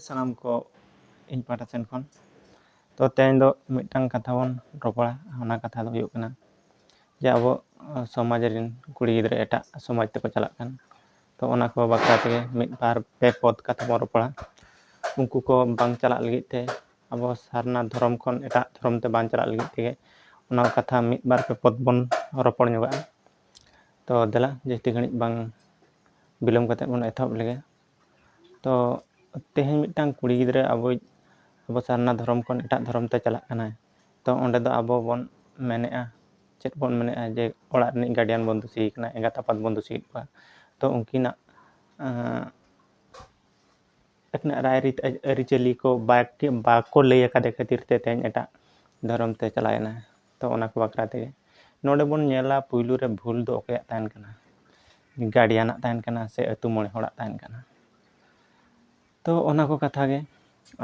ᱥᱟᱱᱟᱢ ᱠᱚ ᱤᱧ ᱯᱟᱦᱴᱟ ᱥᱮᱱ ᱠᱷᱚᱱ ᱛᱚ ᱛᱮᱦᱮᱧ ᱫᱚ ᱢᱤᱫᱴᱟᱝ ᱠᱟᱛᱷᱟ ᱵᱚᱱ ᱨᱚᱯᱚᱲᱟ ᱚᱱᱟ ᱠᱟᱛᱷᱟ ᱫᱚ ᱦᱩᱭᱩᱜ ᱠᱟᱱᱟ ᱡᱮ ᱟᱵᱚ ᱥᱚᱢᱟᱡᱽ ᱨᱮᱱ ᱠᱩᱲᱤ ᱜᱤᱫᱽᱨᱟᱹ ᱮᱴᱟᱜ ᱥᱚᱢᱟᱡᱽ ᱛᱮᱠᱚ ᱪᱟᱞᱟᱜ ᱠᱟᱱ ᱛᱚ ᱚᱱᱟ ᱠᱚ ᱵᱟᱠᱷᱨᱟ ᱛᱮᱜᱮ ᱢᱤᱫ ᱵᱟᱨ ᱯᱮ ᱯᱚᱫ ᱠᱟᱛᱷᱟ ᱵᱚᱱ ᱨᱚᱯᱚᱲᱟ ᱩᱱᱠᱩ ᱠᱚ ᱵᱟᱝ ᱪᱟᱞᱟᱜ ᱞᱟᱹᱜᱤᱫ ᱛᱮ ᱟᱵᱚ ᱥᱟᱨᱱᱟ ᱫᱷᱚᱨᱚᱢ ᱠᱷᱚᱱ ᱮᱴᱟᱜ ᱫᱷᱚᱨᱚᱢ ᱛᱮ ᱵᱟᱝ ᱪᱟᱞᱟᱜ ᱞᱟᱹᱜᱤᱫ ᱛᱮᱜᱮ ᱚᱱᱟ ᱠᱟᱛᱷᱟ ᱢᱤᱫ ᱵᱟᱨ ᱯᱮ ᱯᱚᱫ ᱵᱚᱱ ᱨᱚᱯᱚᱲ ᱧᱚᱜᱚᱜᱼᱟ ᱛᱚ ᱫᱮᱞᱟ ᱡᱟᱹᱥᱛᱤ ᱜᱷᱟᱹᱲᱤᱡ ᱵᱟᱝ ᱵᱤᱞᱚᱢ ᱠᱟᱛᱮᱫ ᱵᱚᱱ ᱮᱛᱚᱦᱚᱵ ᱞᱮᱜᱮ ᱛᱚ ᱛᱮᱦᱮᱧ ᱢᱤᱫᱴᱟᱝ ᱠᱩᱲᱤ ᱜᱤᱫᱽᱨᱟᱹ ᱟᱵᱚᱭᱤᱡ ᱟᱵᱚ ᱥᱟᱨᱱᱟ ᱫᱷᱚᱨᱚᱢ ᱠᱷᱚᱱ ᱮᱴᱟᱜ ᱫᱷᱚᱨᱚᱢ ᱛᱮ ᱪᱟᱞᱟᱜ ᱠᱟᱱᱟᱭ ᱛᱚ ᱚᱸᱰᱮ ᱫᱚ ᱟᱵᱚ ᱵᱚᱱ ᱢᱮᱱᱮᱜᱼᱟ ᱪᱮᱫ ᱵᱚᱱ ᱢᱮᱱᱮᱜᱼᱟ ᱡᱮ ᱚᱲᱟᱜ ᱨᱤᱱᱤᱡ ᱜᱟᱨᱰᱤᱭᱟᱱ ᱵᱚᱱ ᱫᱩᱥᱤᱭᱮ ᱠᱟᱱᱟ ᱮᱸᱜᱟᱛ ᱟᱯᱟᱛ ᱵᱚᱱ ᱫᱩᱥᱤᱭᱮᱜ ᱠᱚᱣᱟ ᱛᱚ ᱩᱱᱠᱤᱱᱟᱜ ᱟᱹᱠᱤᱱᱟᱜ ᱨᱟᱭ ᱨᱤᱛ ᱟᱹᱨᱤᱪᱟᱹᱞᱤ ᱠᱚ ᱵᱟᱠᱚ ᱞᱟᱹᱭ ᱠᱟᱫᱮ ᱠᱷᱟᱹᱛᱤᱨ ᱛᱮ ᱛᱮᱦᱮᱧ ᱮᱴᱟᱜ ᱫᱷᱚᱨᱚᱢ ᱛᱮ ᱪᱟᱞᱟᱣᱮᱱᱟᱭ ᱛᱚ ᱚᱱᱟ ᱠᱚ ᱵᱟᱠᱷᱨᱟ ᱛᱮᱜᱮ ᱱᱚᱰᱮ ᱵᱚᱱ ᱧᱮᱞᱟ ᱯᱩᱭᱞᱩ ᱨᱮ ᱵᱷᱩᱞ ᱫᱚ ᱚᱠᱚᱭᱟᱜ ᱛᱟᱦᱮᱱ ᱠᱟᱱᱟ ᱜᱟᱨᱰᱤᱭᱟᱱᱟᱜ ᱛᱟᱦᱮᱱ ᱠᱟᱱᱟ ᱥᱮ ᱟᱹᱛᱩ ᱢᱚᱬᱮ ᱦᱚᱲᱟᱜ ᱛᱟᱦᱮᱱ ᱠᱟᱱᱟ ᱛᱚ ᱚᱱᱟ ᱠᱚ ᱠᱟᱛᱷᱟ ᱜᱮ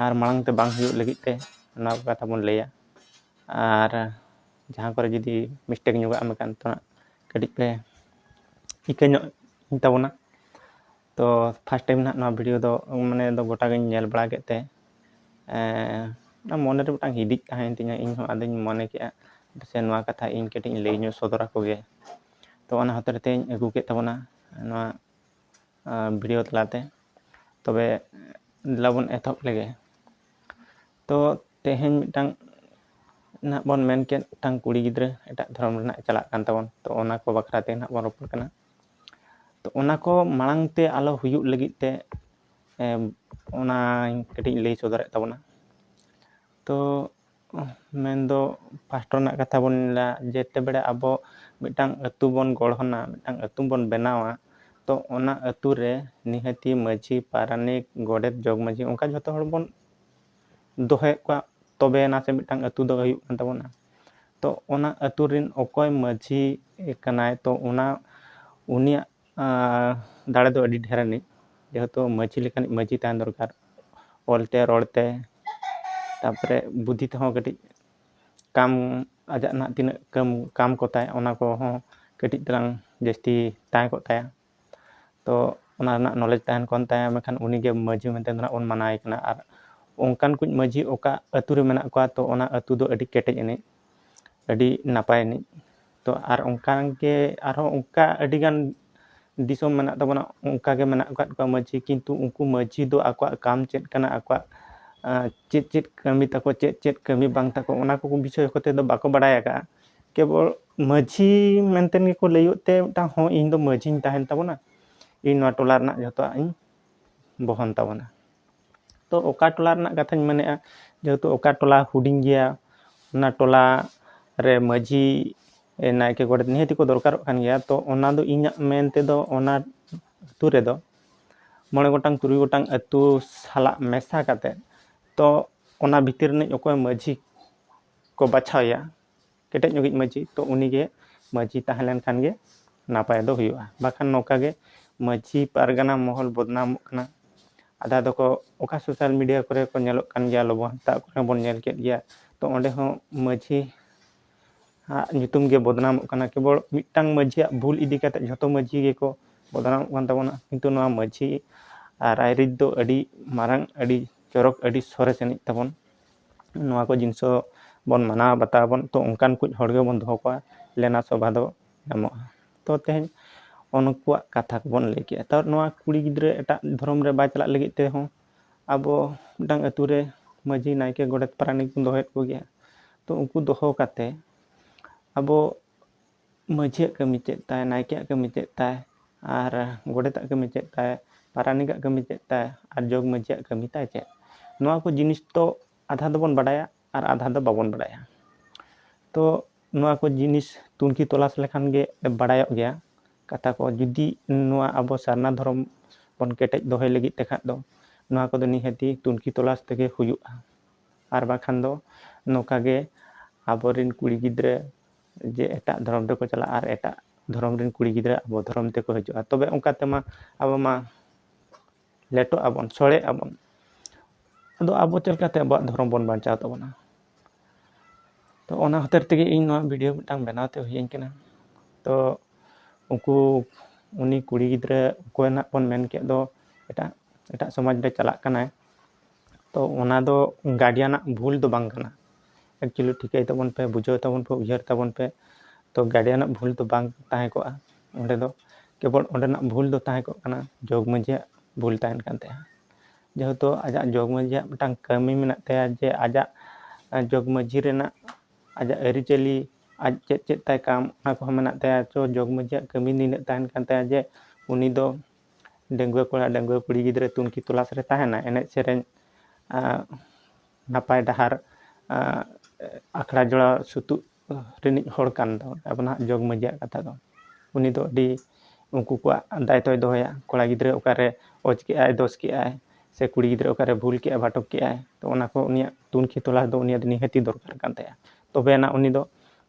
ᱟᱨ ᱢᱟᱲᱟᱝ ᱛᱮ ᱵᱟᱝ ᱦᱩᱭᱩᱜ ᱞᱟᱹᱜᱤᱫ ᱛᱮ ᱚᱱᱟ ᱠᱚ ᱠᱟᱛᱷᱟ ᱵᱚᱱ ᱞᱟᱹᱭᱟ ᱟᱨ ᱡᱟᱦᱟᱸ ᱠᱚᱨᱮ ᱡᱩᱫᱤ ᱢᱤᱥᱴᱮᱠ ᱧᱚᱜᱟᱜ ᱢᱮᱠᱟᱱ ᱛᱚ ᱦᱟᱸᱜ ᱠᱟᱹᱴᱤᱡ ᱯᱮ ᱤᱠᱟᱹ ᱧᱚᱜ ᱛᱟᱵᱚᱱᱟ ᱛᱚ ᱯᱷᱟᱥᱴ ᱴᱟᱭᱤᱢ ᱱᱟᱦᱟᱜ ᱱᱚᱣᱟ ᱵᱷᱤᱰᱤᱭᱳ ᱫᱚ ᱢᱟᱱᱮ ᱫᱚ ᱜᱚᱴᱟ ᱜᱤᱧ ᱧᱮᱞ ᱵᱟᱲᱟ ᱠᱮᱫ ᱛᱮ ᱢᱚᱱᱮ ᱨᱮ ᱢᱤᱫᱴᱟᱝ ᱦᱤᱫᱤᱡ ᱛᱟᱦᱮᱸᱭᱮᱱ ᱛᱤᱧᱟᱹ ᱤᱧ ᱦᱚᱸ ᱟᱫᱚᱧ ᱢᱚᱱᱮ ᱠᱮᱫᱼᱟ ᱥᱮ ᱱᱚᱣᱟ ᱠᱟᱛᱷᱟ ᱤᱧ ᱠᱟᱹᱴᱤᱡ ᱤᱧ ᱞᱟᱹᱭ ᱧᱚᱜ ᱥᱚᱫᱚᱨ ᱟᱠᱚ ᱜᱮ ᱛᱚ ᱚᱱᱟ ᱦᱚᱛᱮᱡ ᱛᱮᱧ ᱟᱹᱜᱩ ᱠᱮᱫ ᱛᱟᱵᱚᱱᱟ ᱱᱚᱣᱟ ᱵᱷᱤᱰᱤᱭᱳ ᱛᱟᱞᱟᱛᱮ ᱛᱚᱵᱮ ᱫᱮᱞᱟ ᱵᱚᱱ ᱮᱛᱚᱦᱚᱵ ᱞᱮᱜᱮ ᱛᱚ ᱛᱮᱦᱮᱧ ᱢᱤᱫᱴᱟᱝ ᱱᱟᱦᱟᱜ ᱵᱚᱱ ᱢᱮᱱ ᱠᱮᱫ ᱢᱤᱫᱴᱟᱝ ᱠᱩᱲᱤ ᱜᱤᱫᱽᱨᱟᱹ ᱮᱴᱟᱜ ᱫᱷᱚᱨᱚᱢ ᱨᱮᱱᱟᱜ ᱪᱟᱞᱟᱜ ᱠᱟᱱ ᱛᱟᱵᱚᱱ ᱛᱚ ᱚᱱᱟ ᱠᱚ ᱵᱟᱠᱷᱨᱟ ᱛᱮ ᱱᱟᱦᱟᱜ ᱵᱚᱱ ᱨᱚᱯᱚᱲ ᱠᱟᱱᱟ ᱛᱚ ᱚᱱᱟ ᱠᱚ ᱢᱟᱲᱟᱝ ᱛᱮ ᱟᱞᱚ ᱦᱩᱭᱩᱜ ᱞᱟᱹᱜᱤᱫ ᱛᱮ ᱚᱱᱟᱧ ᱠᱟᱹᱴᱤᱡ ᱤᱧ ᱞᱟᱹᱭ ᱥᱚᱫᱚᱨᱮᱫ ᱛᱟᱵᱚᱱᱟ ᱛᱚ ᱢᱮᱱᱫᱚ ᱯᱷᱟᱥᱴ ᱨᱮᱱᱟᱜ ᱠᱟᱛᱷᱟ ᱵᱚᱱ ᱧᱮᱞᱟ ᱡᱮᱛᱮ ᱵᱮᱲᱟ ᱟᱵᱚ ᱢᱤᱫᱴᱟᱝ ᱟᱹᱛᱩ ᱵᱚᱱ ᱜᱚᱲᱦᱚᱱᱟ ᱢᱤᱫᱴᱟᱝ ᱟᱹᱛᱩ ᱵᱚᱱ ᱵᱮᱱᱟᱣᱟ ᱛᱚ ᱚᱱᱟ ᱟᱹᱛᱩ ᱨᱮ ᱱᱤᱦᱟᱹᱛᱤ ᱢᱟᱹᱡᱷᱤ ᱯᱟᱨᱟᱱᱤᱠ ᱜᱚᱰᱮᱛ ᱡᱚᱜᱽ ᱢᱟᱹᱡᱷᱤ ᱚᱱᱠᱟ ᱡᱷᱚᱛᱚ ᱦᱚᱲ ᱵᱚᱱ ᱫᱚᱦᱚᱭᱮᱫ ᱠᱚᱣᱟ ᱛᱚᱵᱮ ᱟᱱᱟᱜ ᱥᱮ ᱢᱤᱫᱴᱟᱝ ᱟᱹᱛᱩ ᱫᱚ ᱦᱩᱭᱩᱜ ᱠᱟᱱ ᱛᱟᱵᱚᱱᱟ ᱛᱚ ᱚᱱᱟ ᱟᱹᱛᱩ ᱨᱮᱱ ᱚᱠᱚᱭ ᱢᱟᱺᱡᱷᱤ ᱠᱟᱱᱟᱭ ᱛᱚ ᱚᱱᱟ ᱩᱱᱤᱭᱟᱜ ᱫᱟᱲᱮ ᱫᱚ ᱟᱹᱰᱤ ᱰᱷᱮᱨ ᱟᱹᱱᱤᱡ ᱡᱮᱦᱮᱛᱩ ᱢᱟᱺᱡᱷᱤ ᱞᱮᱠᱟᱱᱤᱡ ᱢᱟᱺᱡᱷᱤ ᱛᱟᱦᱮᱱ ᱫᱚᱨᱠᱟᱨ ᱚᱞᱛᱮ ᱨᱚᱲᱛᱮ ᱛᱟᱨᱯᱚᱨᱮ ᱵᱩᱫᱽᱫᱷᱤ ᱛᱮᱦᱚᱸ ᱠᱟᱹᱴᱤᱡ ᱠᱟᱢ ᱟᱡᱟᱜ ᱱᱟᱦᱟᱜ ᱛᱤᱱᱟᱹᱜ ᱠᱟᱹᱢ ᱠᱟᱢ ᱠᱚᱛᱟᱭ ᱚᱱᱟ ᱠᱚᱦᱚᱸ ᱠᱟᱹᱴᱤᱡ ᱛᱟᱞᱟᱝ ᱡᱟᱹᱥᱛᱤ ᱛᱟᱦᱮᱸ ᱠᱚᱜ ᱛᱟᱭᱟ ᱛᱚ ᱚᱱᱟ ᱨᱮᱱᱟᱜ ᱱᱚᱞᱮᱡᱽ ᱛᱟᱦᱮᱱ ᱠᱟᱱ ᱛᱟᱭᱟ ᱢᱮᱱᱠᱷᱟᱱ ᱩᱱᱤ ᱜᱮ ᱢᱟᱹᱡᱷᱤ ᱢᱮᱱᱛᱮ ᱫᱚ ᱦᱟᱸᱜ ᱵᱚᱱ ᱢᱟᱱᱟᱣᱮ ᱠᱟᱱᱟ ᱟᱨ ᱚᱱᱠᱟᱱ ᱠᱚ ᱢᱟᱹᱡᱷᱤ ᱚᱠᱟ ᱟᱹᱛᱩ ᱨᱮ ᱢᱮᱱᱟᱜ ᱠᱚᱣᱟ ᱛᱚ ᱚᱱᱟ ᱟᱹᱛᱩ ᱫᱚ ᱟᱹᱰᱤ ᱠᱮᱴᱮᱡ ᱟᱹᱱᱤᱡ ᱟᱹᱰᱤ ᱱᱟᱯᱟᱭ ᱟᱹᱱᱤᱡ ᱛᱚ ᱟᱨ ᱚᱱᱠᱟ ᱜᱮ ᱟᱨᱦᱚᱸ ᱚᱱᱠᱟ ᱟᱹᱰᱤ ᱜᱟᱱ ᱫᱤᱥᱚᱢ ᱢᱮᱱᱟᱜ ᱛᱟᱵᱚᱱᱟ ᱚᱱᱠᱟ ᱜᱮ ᱢᱮᱱᱟᱜ ᱟᱠᱟᱫ ᱠᱚᱣᱟ ᱢᱟᱹᱡᱷᱤ ᱠᱤᱱᱛᱩ ᱩᱱᱠᱩ ᱢᱟᱹᱡᱷᱤ ᱫᱚ ᱟᱠᱚᱣᱟᱜ ᱠᱟᱢ ᱪᱮᱫ ᱠᱟᱱᱟ ᱟᱠᱚᱣᱟᱜ ᱪᱮᱫ ᱪᱮᱫ ᱠᱟᱹᱢᱤ ᱛᱟᱠᱚ ᱪᱮᱫ ᱪᱮᱫ ᱠᱟᱹᱢᱤ ᱵᱟᱝ ᱛᱟᱠᱚ ᱚᱱᱟ ᱠᱚ ᱵᱤᱥᱚᱭ ᱠᱚᱛᱮ ᱫᱚ ᱵᱟᱠᱚ ᱵᱟᱲᱟᱭ ᱟᱠᱟᱫᱼᱟ ᱠᱮᱵᱚᱞ ᱢᱟᱺᱡᱷᱤ ᱢᱮᱱᱛᱮ ᱜᱮᱠᱚ ᱞᱟᱹᱭᱚᱜ ᱛᱮ ᱢᱤᱫᱴᱟᱝ ᱦᱚᱸ ᱤᱧ ᱫᱚ ᱢᱟᱺᱡᱷᱤᱧ ᱛᱟᱦᱮᱱ ᱛᱟᱵᱚᱱᱟ ᱤᱧ ᱱᱚᱣᱟ ᱴᱚᱞᱟ ᱨᱮᱱᱟᱜ ᱡᱚᱛᱚᱣᱟᱜ ᱤᱧ ᱵᱚᱦᱚᱱ ᱛᱟᱵᱚᱱᱟ ᱛᱚ ᱚᱠᱟ ᱴᱚᱞᱟ ᱨᱮᱱᱟᱜ ᱠᱟᱛᱷᱟᱧ ᱢᱮᱱᱮᱫᱼᱟ ᱡᱮᱦᱮᱛᱩ ᱚᱠᱟ ᱴᱚᱞᱟ ᱦᱩᱰᱤᱧ ᱜᱮᱭᱟ ᱚᱱᱟ ᱴᱚᱞᱟ ᱨᱮ ᱢᱟᱺᱡᱷᱤ ᱱᱟᱭᱠᱮ ᱜᱚᱰᱮᱛ ᱱᱤᱦᱟᱹᱛ ᱜᱮᱠᱚ ᱫᱚᱨᱠᱟᱨᱚᱜ ᱠᱟᱱ ᱜᱮᱭᱟ ᱛᱚ ᱚᱱᱟ ᱫᱚ ᱤᱧᱟᱹᱜ ᱢᱮᱱ ᱛᱮᱫᱚ ᱚᱱᱟ ᱟᱹᱛᱩ ᱨᱮᱫᱚ ᱢᱚᱬᱮ ᱜᱚᱴᱟᱝ ᱛᱩᱨᱩᱭ ᱜᱚᱴᱟᱝ ᱟᱹᱛᱩ ᱥᱟᱞᱟᱜ ᱢᱮᱥᱟ ᱠᱟᱛᱮᱫ ᱛᱚ ᱚᱱᱟ ᱵᱷᱤᱛᱤᱨ ᱨᱤᱱᱤᱡ ᱚᱠᱚᱭ ᱢᱟᱺᱡᱷᱤ ᱠᱚ ᱵᱟᱪᱷᱟᱣ ᱮᱭᱟ ᱠᱮᱴᱮᱡ ᱧᱚᱜᱤᱡ ᱢᱟᱺᱡᱷᱤ ᱛᱚ ᱩᱱᱤᱜᱮ ᱢᱟᱺᱡᱷᱤ ᱛᱟᱦᱮᱸ ᱞᱮᱱᱠᱷᱟᱱ ᱜᱮ ᱱᱟᱯᱟᱭ ᱫᱚ ᱦᱩᱭᱩᱜᱼᱟ ᱵᱟᱠᱷᱟᱱ ᱱᱚᱝᱠᱟ ᱜᱮ ᱢᱟᱺᱡᱷᱤ ᱯᱟᱨᱜᱟᱱᱟ ᱢᱚᱦᱚᱞ ᱵᱚᱫᱱᱟᱢᱚᱜ ᱠᱟᱱᱟ ᱟᱫᱷᱟ ᱫᱚᱠᱚ ᱚᱠᱟ ᱥᱳᱥᱟᱞ ᱢᱤᱰᱤᱭᱟ ᱠᱚᱨᱮ ᱠᱚ ᱧᱮᱞᱚᱜ ᱠᱟᱱ ᱜᱮᱭᱟ ᱞᱚᱵᱚ ᱦᱟᱸᱥᱫᱟ ᱠᱚᱨᱮ ᱵᱚᱱ ᱧᱮᱞ ᱠᱮᱫ ᱜᱮᱭᱟ ᱛᱚ ᱚᱸᱰᱮ ᱦᱚᱸ ᱢᱟᱺᱡᱷᱤ ᱟᱜ ᱧᱩᱛᱩᱢ ᱜᱮ ᱵᱚᱫᱱᱟᱢᱚᱜ ᱠᱟᱱᱟ ᱠᱮᱵᱚᱞ ᱢᱤᱫᱴᱟᱝ ᱢᱟᱺᱡᱷᱤᱭᱟᱜ ᱵᱷᱩᱞ ᱤᱫᱤ ᱠᱟᱛᱮ ᱡᱷᱚᱛᱚ ᱢᱟᱺᱡᱷᱤ ᱜᱮᱠᱚ ᱵᱚᱫᱱᱟᱢᱚᱜ ᱠᱟᱱ ᱛᱟᱵᱚᱱᱟ ᱠᱤᱱᱛᱩ ᱱᱚᱣᱟ ᱢᱟᱺᱡᱷᱤ ᱨᱟᱭᱨᱤᱛ ᱫᱚ ᱟᱹᱰᱤ ᱢᱟᱨᱟᱝ ᱟᱹᱰᱤ ᱪᱚᱨᱚᱠ ᱟᱹᱰᱤ ᱥᱚᱨᱮᱥ ᱟᱹᱱᱤᱡ ᱛᱟᱵᱚᱱ ᱱᱚᱣᱟ ᱠᱚ ᱡᱤᱱᱤᱥ ᱦᱚᱸ ᱵᱚᱱ ᱢᱟᱱᱟᱣ ᱵᱟᱛᱟᱣ ᱟᱵᱚᱱ ᱛᱚ ᱚᱱᱠᱟᱱ ᱠᱚ ᱦᱚᱲ ᱜᱮᱵᱚᱱ ᱫᱚᱦᱚ ᱠᱚᱣᱟ ᱫᱮᱱᱟ ᱥᱮᱵᱟ ᱫᱚ ᱧᱟᱢᱚᱜᱼᱟ ᱛᱚ ᱛᱮᱦᱮᱧ ᱩᱱᱠᱩᱣᱟᱜ ᱠᱟᱛᱷᱟ ᱠᱚᱵᱚᱱ ᱞᱟᱹᱭ ᱠᱮᱜᱼᱟ ᱛᱟᱣ ᱱᱚᱣᱟ ᱠᱩᱲᱤ ᱜᱤᱫᱽᱨᱟᱹ ᱮᱴᱟᱜ ᱫᱷᱚᱨᱚᱢ ᱨᱮ ᱵᱟᱭ ᱪᱟᱞᱟᱜ ᱞᱟᱹᱜᱤᱫ ᱛᱮᱦᱚᱸ ᱟᱵᱚ ᱢᱤᱫᱴᱟᱝ ᱟᱛᱳ ᱨᱮ ᱢᱟᱹᱡᱷᱤ ᱱᱟᱭᱠᱮ ᱜᱚᱰᱮᱛ ᱯᱟᱨᱟᱱᱤᱠ ᱵᱚᱱ ᱫᱚᱦᱚᱭᱮᱜ ᱠᱚᱜᱮᱭᱟ ᱛᱚ ᱩᱱᱠᱩ ᱫᱚᱦᱚ ᱠᱟᱛᱮᱜ ᱟᱵᱚ ᱢᱟᱹᱡᱷᱤᱭᱟᱜ ᱠᱟᱹᱢᱤ ᱪᱮᱫ ᱛᱟᱭ, ᱱᱟᱭᱠᱮᱭᱟᱜ ᱠᱟᱹᱢᱤ ᱪᱮᱫ ᱛᱟᱭ ᱟᱨ ᱜᱚᱰᱮᱛᱟᱜ ᱠᱟᱹᱢᱤ ᱪᱮᱫ ᱛᱟᱭ, ᱯᱟᱨᱟᱱᱤᱠᱟᱜ ᱠᱟᱹᱢᱤ ᱪᱮᱫ ᱛᱟᱭ ᱟᱨ ᱡᱚᱜᱽ ᱢᱟᱹᱡᱷᱤᱭᱟᱜ ᱠᱟᱹᱢᱤ ᱛᱟᱭ ᱪᱮᱫ? ᱱᱚᱣᱟ ᱠᱚ ᱡᱤᱱᱤᱥ ᱫᱚ ᱟᱫᱷᱟ ᱫᱚᱵᱚᱱ ᱵᱟᱰᱟᱭᱟ ᱟᱨ ᱟᱫᱷᱟ ᱫᱚ ᱵᱟᱵᱚᱱ ᱵᱟᱰᱟᱭᱟ᱾ ᱛᱚ ᱱᱚᱣᱟ ᱠᱚ ᱡᱤᱱᱤᱥ ᱛᱩᱱᱠᱷᱤ ᱛᱚᱞᱟᱥ ᱞᱮᱠᱷᱟᱱ ᱜᱮ ᱵᱟᱰᱟᱭᱚᱜ ᱜᱮᱭᱟ ᱠᱟᱛᱷᱟ ᱠᱚ᱾ ᱡᱩᱫᱤ ᱱᱚᱣᱟ ᱟᱵᱚ ᱥᱟᱨᱱᱟ ᱫᱷᱚᱨᱚᱢ ᱵᱚᱱ ᱠᱮᱴᱮᱡ ᱫᱚᱦᱚᱭ ᱞᱟᱹᱜᱤᱫ ᱛᱮ ᱠᱷᱟᱱ ᱫᱚ ᱱᱚᱣᱟ ᱠᱚᱫᱚ ᱱᱤᱦᱟᱹᱛᱤ ᱛᱩᱱᱠᱷᱤ ᱛᱚᱞᱟᱥ ᱛᱮᱜᱮ ᱦᱩᱭᱩᱜᱼᱟ᱾ ᱟᱨ ᱵᱟᱠᱷᱟᱱ ᱫᱚ ᱱᱚᱝᱠᱟ ᱜᱮ ᱟᱵᱚ ᱨᱤᱱ ᱠᱩᱲᱤ ᱜᱤᱫᱽᱨᱟᱹ ᱡᱮ ᱮᱴᱟᱜ ᱫᱷᱚᱨᱚᱢ ᱨᱮᱠᱚ ᱪᱟᱞᱟᱜᱼᱟ ᱟᱨ ᱮᱴᱟᱜ ᱫᱷᱚᱨᱚᱢ ᱨᱮᱱ ᱠᱩᱲᱤ ᱜᱤᱫᱽᱨᱟᱹ ᱟᱵᱚ ᱫᱷᱚᱨᱚᱢ ᱛᱮᱠᱚ ᱦᱤᱡᱩᱜᱼᱟ ᱛᱚᱵᱮ ᱚᱱᱠᱟ ᱛᱮᱢᱟ ᱟᱵᱚ ᱢᱟ ᱞᱮᱴᱚᱜ ᱟᱵᱚᱱ ᱥᱚᱲᱮᱜ ᱟᱵᱚᱱ ᱟᱫᱚ ᱟᱵᱚ ᱪᱮᱫ ᱞᱮᱠᱟᱛᱮ ᱟᱵᱚᱣᱟᱜ ᱫᱷᱚᱨᱚᱢ ᱵᱚᱱ ᱵᱟᱧᱪᱟᱣ ᱛᱟᱵᱚᱱᱟ ᱛᱚ ᱚᱱᱟ ᱦᱚᱛᱮᱡ ᱛᱮᱜᱮ ᱤᱧ ᱱᱚᱣᱟ ᱵᱷᱤᱰᱭᱳ ᱢᱤᱫᱴᱟᱝ ᱵᱮᱱᱟᱣ ᱛᱮ ᱦᱩᱭᱟᱹᱧ ᱠᱟᱱᱟ ᱛᱚ ᱩᱱᱠᱩ ᱩᱱᱤ ᱠᱩᱲᱤ ᱜᱤᱫᱽᱨᱟᱹ ᱚᱠᱚᱭ ᱱᱟᱜ ᱵᱚᱱ ᱢᱮᱱ ᱠᱮᱫ ᱫᱚ ᱮᱴᱟᱜ ᱮᱴᱟᱜ ᱥᱚᱢᱟᱡᱽ ᱨᱮ ᱪᱟᱞᱟᱜ ᱠᱟᱱᱟᱭ ᱛᱚ ᱚᱱᱟ ᱫᱚ ᱜᱟᱨᱰᱤᱭᱟᱱᱟᱜ ᱵᱷᱩᱞ ᱫᱚ ᱵᱟᱝ ᱠᱟᱱᱟ ᱮᱠᱪᱩᱭᱮᱞᱤ ᱴᱷᱤᱠᱟᱹᱭ ᱛᱟᱵᱚᱱ ᱯᱮ ᱵᱩᱡᱷᱟᱹᱣ ᱛᱟᱵᱚᱱ ᱯᱮ ᱩᱭᱦᱟᱹᱨ ᱛᱟᱵᱚᱱ ᱯᱮ ᱛᱚ ᱜᱟᱨᱰᱤᱭᱟᱱᱟᱜ ᱵᱷᱩᱞ ᱫᱚ ᱵᱟᱝ ᱛᱟᱦᱮᱸ ᱠᱚᱜᱼᱟ ᱚᱸᱰᱮ ᱫᱚ ᱠᱮᱵᱚᱞ ᱚᱸᱰᱮᱱᱟᱜ ᱵᱷᱩᱞ ᱫᱚ ᱛᱟᱦᱮᱸ ᱠᱚᱜ ᱠᱟᱱᱟ ᱡᱚᱜᱽ ᱢᱟᱺᱡᱷᱤᱭᱟᱜ ᱵᱷᱩᱞ ᱛᱟᱦᱮᱱ ᱠᱟᱱ ᱛᱟᱭᱟ ᱡᱮᱦᱮᱛᱩ ᱟᱡᱟᱜ ᱡᱚᱜᱽ ᱢᱟᱺᱡᱷᱤᱭᱟᱜ ᱢᱤᱫᱴᱟᱝ ᱠᱟᱹᱢᱤ ᱢᱮᱱᱟᱜ ᱛᱟᱭᱟ ᱡᱮ ᱟᱡᱟᱜ ᱡᱚᱜᱽ ᱢᱟᱺᱡᱷᱤ ᱨᱮᱱᱟᱜ ᱟᱡᱟᱜ ᱟᱹᱨᱤᱪᱟᱹᱞᱤ ᱟᱡ ᱪᱮᱫ ᱪᱮᱫ ᱛᱟᱭ ᱠᱟᱢ ᱚᱱᱟ ᱠᱚᱦᱚᱸ ᱢᱮᱱᱟᱜ ᱛᱟᱭᱟ ᱛᱚ ᱡᱚᱜᱽ ᱢᱟᱺᱡᱷᱤᱭᱟᱜ ᱠᱟᱹᱢᱤ ᱱᱤᱱᱟᱹᱜ ᱛᱟᱦᱮᱱ ᱠᱟᱱ ᱛᱟᱭᱟ ᱡᱮ ᱩᱱᱤ ᱫᱚ ᱰᱟᱺᱜᱩᱣᱟᱹ ᱠᱚᱲᱟ ᱰᱟᱺᱜᱩᱣᱟᱹ ᱠᱩᱲᱤ ᱜᱤᱫᱽᱨᱟᱹ ᱛᱩᱱᱠᱷᱤ ᱛᱚᱞᱟᱥ ᱨᱮ ᱛᱟᱦᱮᱱᱟᱭ ᱮᱱᱮᱡ ᱥᱮᱨᱮᱧ ᱱᱟᱯᱟᱭ ᱰᱟᱦᱟᱨ ᱟᱠᱷᱲᱟ ᱡᱚᱲᱟᱣ ᱥᱩᱛᱩᱜ ᱨᱤᱱᱤᱡ ᱦᱚᱲ ᱠᱟᱱ ᱫᱚ ᱟᱵᱚ ᱱᱟᱦᱟᱜ ᱡᱚᱜᱽ ᱢᱟᱺᱡᱷᱤᱭᱟᱜ ᱠᱟᱛᱷᱟ ᱫᱚ ᱩᱱᱤ ᱫᱚ ᱟᱹᱰᱤ ᱩᱱᱠᱩ ᱠᱚᱣᱟᱜ ᱫᱟᱭᱤᱛᱛᱚᱭ ᱫᱚᱦᱚᱭᱟ ᱠᱚᱲᱟ ᱜᱤᱫᱽᱨᱟᱹ ᱚᱠᱟᱨᱮ ᱚᱡᱽ ᱠᱮᱜᱼᱟᱭ ᱫᱳᱥ ᱠᱮᱜᱼᱟᱭ ᱥᱮ ᱠᱩᱲᱤ ᱜᱤᱫᱽᱨᱟᱹ ᱚᱠᱟᱨᱮ ᱵᱷᱩᱞ ᱠᱮᱜᱼᱟᱭ ᱵᱷᱟᱴᱚᱠ ᱠᱮᱜᱼᱟᱭ ᱛᱚ ᱚᱱᱟ ᱠᱚ ᱩᱱᱤᱭᱟᱜ ᱛᱩᱱᱠᱷᱤ ᱛᱚᱞᱟᱥ ᱫᱚ ᱩᱱᱤᱭᱟᱜ ᱫᱚ ᱱᱤᱦᱟᱹᱛᱤ ᱫᱚᱨᱠᱟᱨ ᱠᱟᱱ ᱛᱟᱭᱟ ᱛᱚᱵᱮ ᱟᱱᱟᱜ ᱩᱱᱤ ᱫᱚ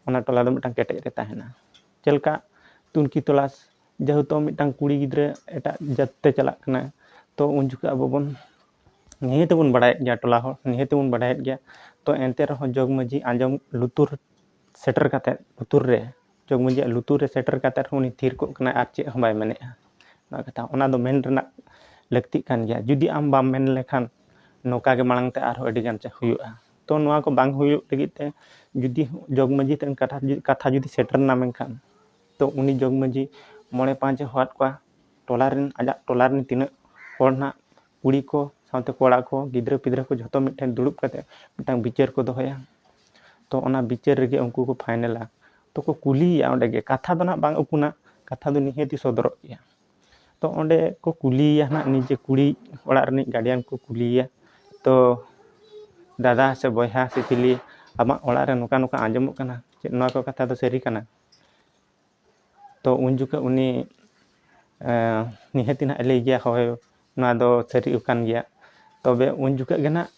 ᱚᱱᱟ ᱴᱚᱞᱟ ᱫᱚ ᱢᱤᱫᱴᱟᱝ ᱠᱮᱴᱮᱡ ᱨᱮ ᱛᱟᱦᱮᱱᱟ ᱪᱮᱫ ᱞᱮᱠᱟ ᱛᱩᱱᱠᱷᱤ ᱛᱚᱞᱟᱥ ᱡᱮᱦᱮᱛᱩ ᱢᱤᱫᱴᱟᱝ ᱠᱩᱲᱤ ᱜᱤᱫᱽᱨᱟᱹ ᱮᱴᱟᱜ ᱡᱟᱹᱛ ᱛᱮ ᱪᱟᱞᱟᱜ ᱠᱟᱱᱟᱭ ᱛᱚ ᱩᱱ ᱡᱚᱠᱷᱚᱡ ᱟᱵᱚ ᱵᱚᱱ ᱱᱤᱦᱟᱹᱛ ᱵᱚᱱ ᱵᱟᱲᱟᱭᱮᱫ ᱜᱮᱭᱟ ᱴᱚᱞᱟ ᱦᱚᱲ ᱱᱤᱦᱟᱹᱛ ᱵᱚᱱ ᱵᱟᱲᱟᱭᱮᱫ ᱜᱮᱭᱟ ᱛᱚ ᱮᱱᱛᱮ ᱨᱮᱦᱚᱸ ᱡᱚᱜᱽ ᱢᱟᱹᱡᱷᱤ ᱟᱸᱡᱚᱢ ᱞᱩᱛᱩᱨ ᱥᱮᱴᱮᱨ ᱠᱟᱛᱮᱫ ᱞᱩᱛᱩᱨ ᱨᱮ ᱡᱚᱜᱽ ᱢᱟᱹᱡᱷᱤᱭᱟᱜ ᱞᱩᱛᱩᱨ ᱨᱮ ᱥᱮᱴᱮᱨ ᱠᱟᱛᱮᱫ ᱨᱮᱦᱚᱸ ᱩᱱᱤ ᱛᱷᱤᱨ ᱠᱚᱜ ᱠᱟᱱᱟᱭ ᱟᱨ ᱪᱮᱫ ᱦᱚᱸ ᱵᱟᱭ ᱢᱮᱱᱮᱫᱼᱟ ᱚᱱᱟ ᱠᱟᱛᱷᱟ ᱚᱱᱟ ᱫᱚ ᱢᱮᱱ ᱨᱮᱱᱟᱜ ᱞᱟᱹᱠᱛᱤᱜ ᱠᱟᱱ ᱜᱮᱭᱟ ᱡᱩᱫᱤ ᱟᱢ ᱵᱟᱢ ᱢᱮᱱ ᱞᱮᱠᱷᱟᱱ ᱱᱚᱝᱠᱟ ᱜᱮ ᱢᱟᱲᱟᱝ ᱛᱮ ᱟᱨᱦᱚᱸ ᱟᱹᱰᱤ ᱜᱟᱱ ᱪᱮᱫ ᱦᱩᱭᱩᱜᱼᱟ ᱛᱚ ᱱᱚᱣᱟ ᱠᱚ ᱵᱟᱝ ᱦᱩᱭᱩᱜ ᱞᱟᱹᱜᱤᱫ ᱛᱮ ᱡᱩᱫᱤ ᱡᱚᱜᱽ ᱢᱟᱹᱡᱷᱤ ᱴᱷᱮᱱ ᱠᱟᱛᱷᱟ ᱡᱩᱫᱤ ᱥᱮᱴᱮᱨᱮᱱᱟ ᱢᱮᱱᱠᱷᱟᱱ ᱛᱚ ᱩᱱᱤ ᱡᱚᱜᱽ ᱢᱟᱹᱡᱷᱤ ᱢᱚᱬᱮ ᱯᱟᱸᱪᱮ ᱦᱚᱦᱚᱣᱟᱫ ᱠᱚᱣᱟ ᱴᱚᱞᱟ ᱨᱮᱱ ᱟᱡᱟᱜ ᱴᱚᱞᱟ ᱨᱮᱱ ᱛᱤᱱᱟᱹᱜ ᱦᱚᱲ ᱱᱟᱜ ᱠᱩᱲᱤ ᱠᱚ ᱥᱟᱶᱛᱮ ᱠᱚᱲᱟ ᱠᱚ ᱜᱤᱫᱽᱨᱟᱹ ᱯᱤᱫᱽᱨᱟᱹ ᱠᱚ ᱡᱷᱚᱛᱚ ᱢᱤᱫ ᱴᱷᱮᱱ ᱫᱩᱲᱩᱵ ᱠᱟᱛᱮᱫ ᱢᱤᱫᱴᱟᱱ ᱵᱤᱪᱟᱹᱨ ᱠᱚ ᱫᱚᱦᱚᱭᱟ ᱛᱚ ᱚᱱᱟ ᱵᱤᱪᱟᱹᱨ ᱨᱮᱜᱮ ᱩᱱᱠᱩ ᱠᱚ ᱯᱷᱟᱭᱱᱮᱞᱟ ᱛᱚ ᱠᱚ ᱠᱩᱞᱤᱭᱮᱭᱟ ᱚᱸᱰᱮ ᱜᱮ ᱠᱟᱛᱷᱟ ᱫᱚ ᱱᱟᱜ ᱵᱟᱝ ᱩᱠᱩᱱᱟ ᱠᱟᱛᱷᱟ ᱫᱚ ᱱᱤᱦᱟᱹᱛ ᱥᱚᱫᱚᱨᱚᱜ ᱜᱮᱭᱟ ᱛᱚ ᱚᱸᱰᱮ ᱠᱚ ᱠᱩᱞᱤᱭᱮᱭᱟ ᱱᱟᱜ ᱱᱤᱡᱮ ᱠᱩᱲᱤ ᱚᱲᱟᱜ ᱨᱤᱱᱤᱡ ᱜᱟᱨᱰᱤᱭᱟᱱ ᱠᱚ ᱠᱩᱞᱤᱭᱮᱭᱟ ᱛᱚ ᱫᱟᱫᱟ ᱥᱮ ᱵᱚᱭᱦᱟ ᱥᱮ ᱪᱤᱞᱤ ᱟᱢᱟᱜ ᱚᱲᱟᱜ ᱨᱮ ᱱᱚᱝᱠᱟ ᱱᱚᱝᱠᱟ ᱟᱸᱡᱚᱢᱚᱜ ᱠᱟᱱᱟ ᱪᱮᱫ ᱱᱚᱣᱟ ᱠᱚ ᱠᱟᱛᱷᱟ ᱫᱚ ᱥᱟᱹᱨᱤ ᱠᱟᱱᱟ ᱛᱚ ᱩᱱ ᱡᱚᱠᱷᱚᱱ ᱩᱱᱤ ᱱᱤᱦᱟᱹᱛ ᱱᱟᱦᱟᱜ ᱞᱟᱹᱭ ᱜᱮᱭᱟ ᱦᱳᱭ ᱱᱚᱣᱟ ᱫᱚ ᱥᱟᱹᱨᱤ ᱠᱟᱱ ᱜᱮᱭᱟ ᱛᱚᱵᱮ ᱩᱱ ᱡᱚᱠᱷᱚᱱ ᱜᱮ ᱱᱟᱦᱟᱜ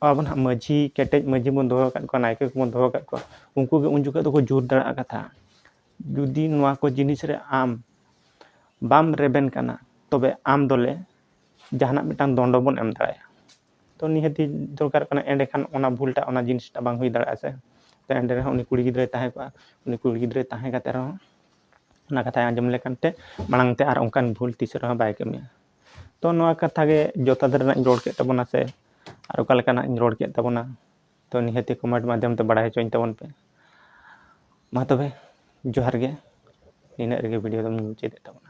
ᱟᱵᱚ ᱱᱟᱦᱟᱜ ᱢᱟᱹᱡᱷᱤ ᱠᱮᱴᱮᱡ ᱢᱟᱹᱡᱷᱤ ᱵᱚᱱ ᱫᱚᱦᱚ ᱟᱠᱟᱫ ᱠᱚᱣᱟ ᱱᱟᱭᱠᱮ ᱠᱚᱵᱚᱱ ᱫᱚᱦᱚ ᱟᱠᱟᱫ ᱠᱚᱣᱟ ᱩᱱᱠᱩ ᱜᱮ ᱩᱱ ᱡᱚᱠᱷᱚᱱ ᱫᱚᱠᱚ ᱡᱳᱨ ᱫᱟᱲᱮᱭᱟᱜᱼᱟ ᱠᱟᱛᱷᱟ ᱡᱩᱫᱤ ᱱᱚᱣᱟ ᱠᱚ ᱡᱤᱱᱤᱥ ᱨᱮ ᱟᱢ ᱵᱟᱢ ᱨᱮᱵᱮᱱ ᱠᱟᱱᱟ ᱛᱚᱵᱮ ᱟᱢ ᱫᱚᱞᱮ ᱡᱟᱦᱟᱱᱟᱜ ᱢᱤᱫᱴᱟᱱ ᱫᱚᱱᱰᱚ ᱵᱚᱱ ᱮᱢ ᱫᱟᱲᱮᱭᱟᱢᱟ ᱛᱚ ᱱᱤᱦᱟᱹᱛᱤ ᱫᱚᱨᱠᱟᱨᱚᱜ ᱠᱟᱱᱟ ᱮᱸᱰᱮ ᱠᱷᱟᱱ ᱚᱱᱟ ᱵᱷᱩᱞ ᱴᱟᱜ ᱚᱱᱟ ᱡᱤᱱᱤᱥ ᱴᱟᱜ ᱵᱟᱝ ᱦᱩᱭ ᱫᱟᱲᱮᱭᱟᱜᱼᱟ ᱥᱮ ᱛᱚ ᱮᱸᱰᱮ ᱨᱮᱦᱚᱸ ᱩᱱᱤ ᱠᱩᱲᱤ ᱜᱤᱫᱽᱨᱟᱹᱭ ᱛᱟᱦᱮᱸ ᱠᱚᱜᱼᱟ ᱩᱱᱤ ᱠᱩᱲᱤ ᱜᱤᱫᱽᱨᱟᱹ ᱛᱟᱦᱮᱸ ᱠᱟᱛᱮᱫ ᱨᱮᱦᱚᱸ ᱚᱱᱟ ᱠᱟᱛᱷᱟᱭ ᱟᱸᱡᱚᱢ ᱞᱮᱠᱷᱟᱱ ᱛᱮ ᱢᱟᱲᱟᱝ ᱛᱮ ᱟᱨ ᱚᱱᱠᱟᱱ ᱵᱷᱩᱞ ᱛᱤᱥ ᱨᱮᱦᱚᱸ ᱵᱟᱭ ᱠᱟᱹᱢᱤᱭᱟ ᱛᱚ ᱱᱚᱣᱟ ᱠᱟᱛᱷᱟ ᱜᱮ ᱡᱚᱛᱷᱟᱛ ᱨᱮᱱᱟᱜ ᱤᱧ ᱨᱚᱲ ᱠᱮᱫ ᱛᱟᱵᱚᱱᱟ ᱥᱮ ᱟᱨ ᱚᱠᱟ ᱞᱮᱠᱟᱱᱟᱜ ᱤᱧ ᱨᱚᱲ ᱠᱮᱫ ᱛᱟᱵᱚᱱᱟ ᱛᱚ ᱱᱤᱦᱟᱹᱛᱤ ᱠᱚᱢᱮᱱᱴ ᱢᱟᱫᱽᱫᱷᱚᱢ ᱛᱮ ᱵᱟᱲᱟᱭ ᱦᱚᱪᱚᱧ ᱛᱟᱵᱚᱱ ᱯᱮ ᱢᱟ ᱛᱚᱵᱮ ᱡᱚᱦᱟᱨ ᱜᱮ ᱱᱤᱱᱟᱹᱜ ᱨᱮᱜᱮ ᱵᱷᱤᱰᱤᱭᱳ ᱫᱚᱧ ᱢᱩᱪᱟᱹᱫᱮᱫ ᱛᱟᱵᱚᱱᱟ